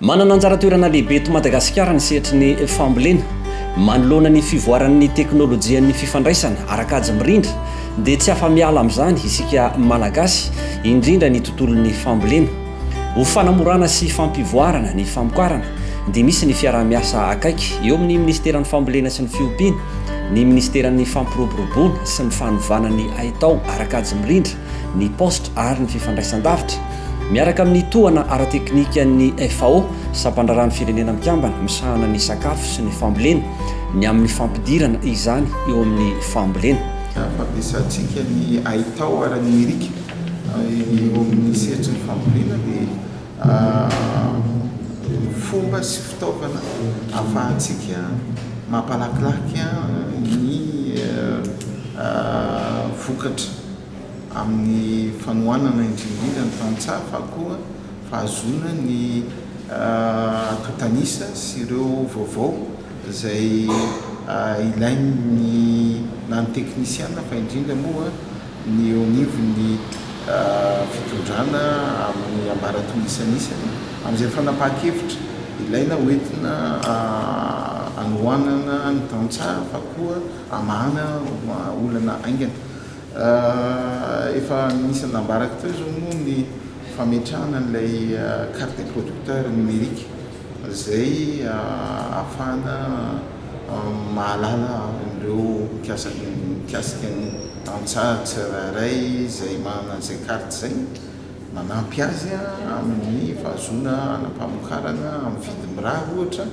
Manana anjara toerana lehibe eto Madagasikara ny sehatry ny fambolena. Manoloana ny fivoaran'ny teknolojian'ny fifandraisana ara-kajy mirindra dia tsy afa-miala amin'izany isika Malagasy, indrindra ny tontolon'ny fambolena. Ho fanamorana sy fampivoarana ny famokarana dia misy ny fiaraha-miasa akaiky eo amin'ny Minisiteran'ny Fambolena sy ny Fiompiana, ny Minisiteran'ny Fampiroboroboana sy ny Fanovana ny Haitao ara-kajy mirindra, ny Poste ary ny Fifandraisandavitra, miaraka amin'ny tohana ara-teknikan'ny FAO, Sampandraharahan'ny Firenena Mikambana misahana ny Sakafo sy ny Fambolena, ny amin'ny fampidirana izany eo amin'ny fambolena. Fampiasantsika ny haitao ara-nomerika. Ny amin'ny sehatry ny fambolena dia fomba sy fitaovana ahafahantsika mampalakilaky ny vokatra amin'ny fanohanana indrindra indrindra ny tantsaha fa koa fahazoana ny atotan'isa sy ireo vaovao izay ilain'ny na ny teknisiana fa indrindra moa ny eo anivon'ny fitondrana amin'ny ambaratonga isanisany amin'izay fanapahan-kevitra ilaina ho entina anohanana ny tantsaha fa koa hamahana olana haingana. Efa nisy nambarako teo izao moa ny fametrahana an'ilay carte des producteurs numérique. izay ahafahana mahalala an'ireo mikasika ny tantsaha tsirairay izay manana izay carte izay, manampy azy amin'ny fahazoana hanam-pamokarana amin'ny vidiny mirary ohatra,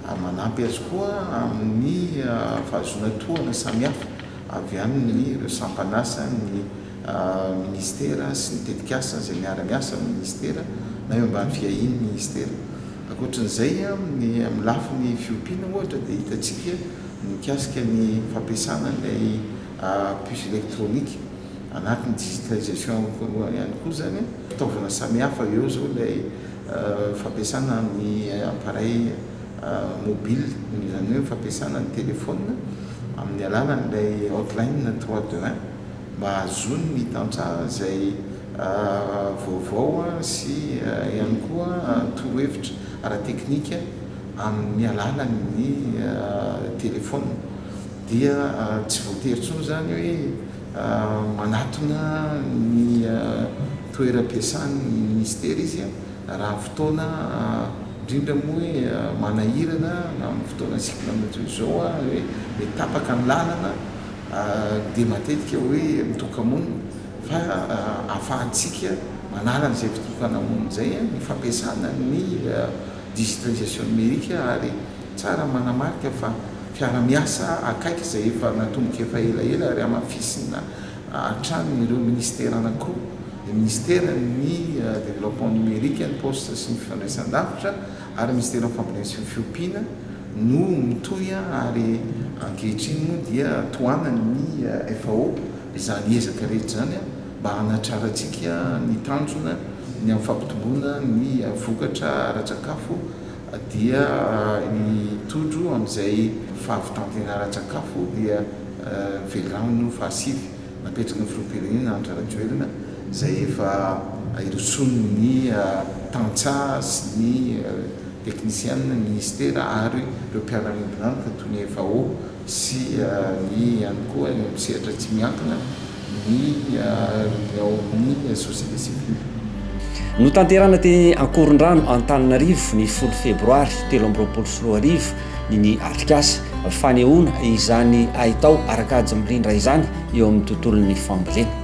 ary manampy azy koa amin'ny fahazoana tohana samihafa avy amin'ireo sampan'asa ny. Minisitera sy ny tetikasa izay miara-miasa amin'ny Minisitera na eo ambany fiahian'ny Minisitera. Ankoatra an'izay, ny amin'ny lafiny fiompiana ohatra dia hitantsika ny mikasika ny fampiasana ilay puce électronique anatin'ny digitalisation ihany koa izany, fitaovana samihafa eo izao ilay fampiasana amin'ny appareil mobile, izany hoe ny fampiasana ny telefaonina amin'ny alalan'ilay hotline trois deux un. mba hahazoany ny tantsaha izay vaovao sy ihany koa torohevitra ara-teknika amin'ny alalan'ny telefaonina dia tsy voatery intsony izany hoe manatona ny toeram-piasany ny minisitera izy raha fotoana indrindra moa hoe manahirana na amin'ny fotoana cycle madio izao hoe tapaka ny lalana dia matetika hoe mitoka-monina fa ahafahantsika manala an'izay fitokana-monina izay ny fampiasana ny digitalisation numérique ary tsara ny manamarika fa fiara-miasa akaiky izay efa natomboka efa elaela ary hamafisina hatrany ireo ministera anankiroa, ny ministeran'ny développement numérique, ny poste sy ny fifandraisan-davitra, ary ny Minisiteran'ny Fambolena sy ny Fiompiana no mitohy ary ankehitriny moa dia tohanany ny FAO izany ezaka rehetra izany mba hanatrarantsika ny tanjona ny amin'ny fampitomboana ny vokatra ara-tsakafo dia hitondro amin'izay fahavitan-tena ara-tsakafo dia velano fahasivy napetraky ny filoham-pirenena Andry Rajoelina izay efa hirosoan' ny tantsaha sy ny teknisiana ny minisitera ary ireo mpiara-miombon'antoka toy ny FAO sy ny ihany koa eo amin'ny sehatra tsy miankina ny ny ao amin'ny société civile. Notanterahina teny Ankorondrano Antananarivo ny folo febroary telo amby roapolo sy roa arivo ny atrikasa fanehoana izany haitao ara-kajy mirindra izany eo amin'ny tontolon'ny fambolena.